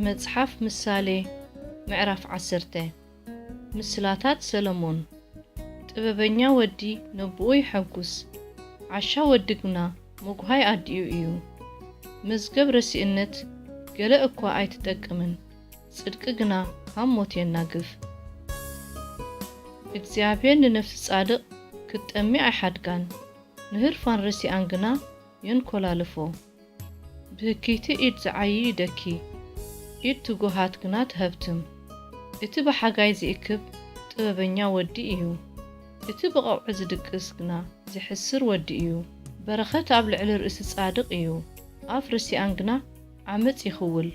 መጽሓፍ ምሳሌ ምዕራፍ ዓሰርተ ምስላታት ሰሎሞን ጥበበኛ ወዲ ነብኡ ይሐጉስ፣ ዓሻ ወዲ ግና ምጕሃይ ኣዲኡ እዩ። መዝገብ ረሲእነት ገለ እኳ ኣይትጠቅምን፣ ጽድቂ ግና ካብ ሞት የናግፍ። እግዚኣብሄር ንነፍሲ ጻድቕ ክትጠሚ ኣይሓድጋን፣ ንህርፋን ርሲኣን ግና የንኰላልፎ። ብህክይቲ ኢድ ዝዓዪ ይደኪ፣ ኢድ ትጉሃት ግና ትሀብትም። እቲ ብሓጋይ ዚእክብ ጥበበኛ ወዲ እዩ፣ እቲ ብቐውዒ ዚድቅስ ግና ዚሕስር ወዲ እዩ። በረኸት ኣብ ልዕሊ ርእሲ ጻድቕ እዩ፣ ኣፍ ርሲኣን ግና ዓመጽ ይኽውል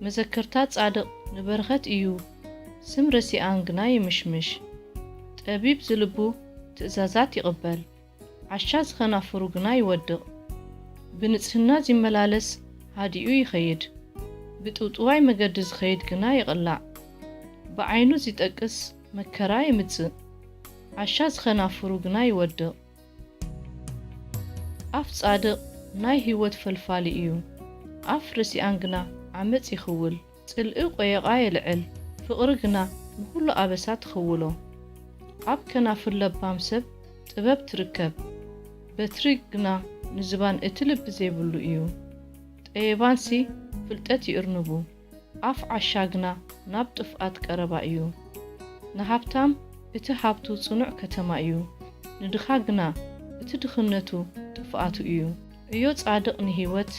መዘከርታ ጻድቕ ንበረኸት እዩ ስም ረሲኣን ግና ይምሽምሽ ጠቢብ ዝልቡ ትእዛዛት ይቕበል ዓሻ ዝኸናፍሩ ግና ይወድቕ ብንጽህና ዚመላለስ ሃዲኡ ይኸይድ ብጥውጥዋይ መገዲ ዝኸይድ ግና ይቕላዕ ብዓይኑ ዚጠቅስ መከራ የምጽእ ዓሻ ዝኸናፍሩ ግና ይወድቕ። ኣፍ ጻድቕ ናይ ህይወት ፈልፋሊ እዩ፣ ኣፍ ርሲኣን ግና ዓመጽ ይኽውል። ጽልኢ ቈየቛ የልዕል፣ ፍቕሪ ግና ንዅሉ ኣበሳ ትኽውሎ። ኣብ ከናፍር ለባም ሰብ ጥበብ ትርከብ፣ በትሪ ግና ንዝባን እቲ ልቢ ዘይብሉ እዩ። ጠየባንሲ ፍልጠት ይእርንቡ። ኣፍ ዓሻ ግና ናብ ጥፍኣት ቀረባ እዩ። ንሃብታም እቲ ሃብቱ ጽኑዕ ከተማ እዩ፣ ንድኻ ግና እቲ ድኽነቱ ጥፍኣቱ እዩ። ዕዮ ጻድቕ ንህይወት፣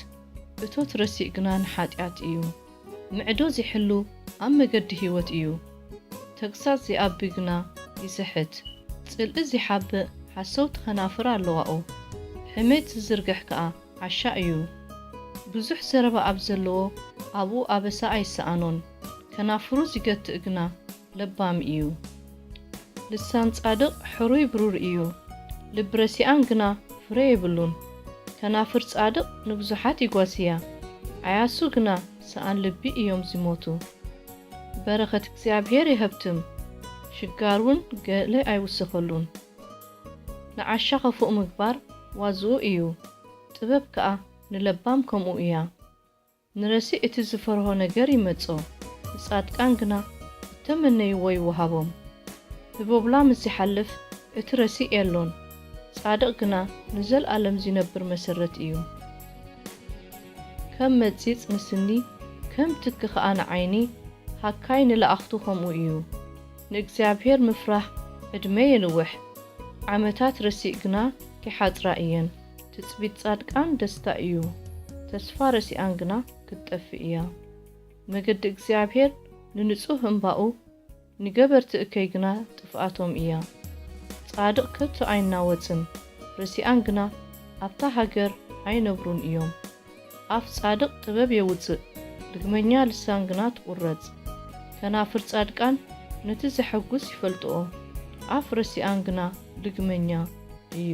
እቶት ረሲእ ግና ንሓጢኣት እዩ። ምዕዶ ዚሕሉ ኣብ መገዲ ህይወት እዩ፣ ተግሳጽ ዚኣቢ ግና ይስሕት። ጽልኢ ዚሓብእ ሓሰውቲ ኸናፍር ኣለዋኦ፣ ሕሜት ዚዝርግሕ ከኣ ዓሻ እዩ ብዙሕ ዘረባ ኣብ ዘለዎ ኣብኡ ኣበሳ ኣይሰኣኖን ከናፍሩ ዚገትእ ግና ለባም እዩ። ልሳን ጻድቕ ሕሩይ ብሩር እዩ ልቢ ረሲኣን ግና ፍረ የብሉን። ከናፍር ጻድቕ ንብዙሓት ይጓስያ ዓያሱ ግና ሰኣን ልቢ እዮም ዚሞቱ። በረኸት እግዚኣብሄር የሀብትም ሽጋር ውን ገለ ኣይውሰኸሉን። ንዓሻ ኸፉእ ምግባር ዋዝኡ እዩ፣ ጥበብ ከኣ ንለባም ከምኡ እያ። ንረሲእ እቲ ዝፈርሆ ነገር ይመጾ፣ ንጻድቃን ግና እተመነይዎ ይወሃቦም። ህቦብላ ምስ ዚሓልፍ እቲ ረሲእ የሎን፣ ጻድቕ ግና ንዘልኣለም ዚነብር መሰረት እዩ። ከም መጺጽ ንስኒ፣ ከም ትኪ ኸኣ ንዓይኒ፣ ሃካይ ንለኣኽቱ ኸምኡ እዩ። ንእግዚኣብሔር ምፍራህ ዕድመ የንውሕ ዓመታት ረሲእ ግና ኪሓጽራ እየን ትጽቢት ጻድቃን ደስታ እዩ ተስፋ ረሲኣን ግና ክትጠፍእ እያ መገዲ እግዚኣብሔር ንንጹህ እምባኡ ንገበርቲ እከይ ግና ጥፍኣቶም እያ ጻድቅ ከቶ ኣይናወጽን ረሲኣን ግና ኣብታ ሃገር ኣይነብሩን እዮም። ኣፍ ጻድቕ ጥበብ የውጽእ፣ ርግመኛ ልሳን ግና ትቝረጽ። ከናፍር ጻድቃን ነቲ ዜሐጕስ ይፈልጥኦ፣ ኣፍ ረሲኣን ግና ርግመኛ እዩ።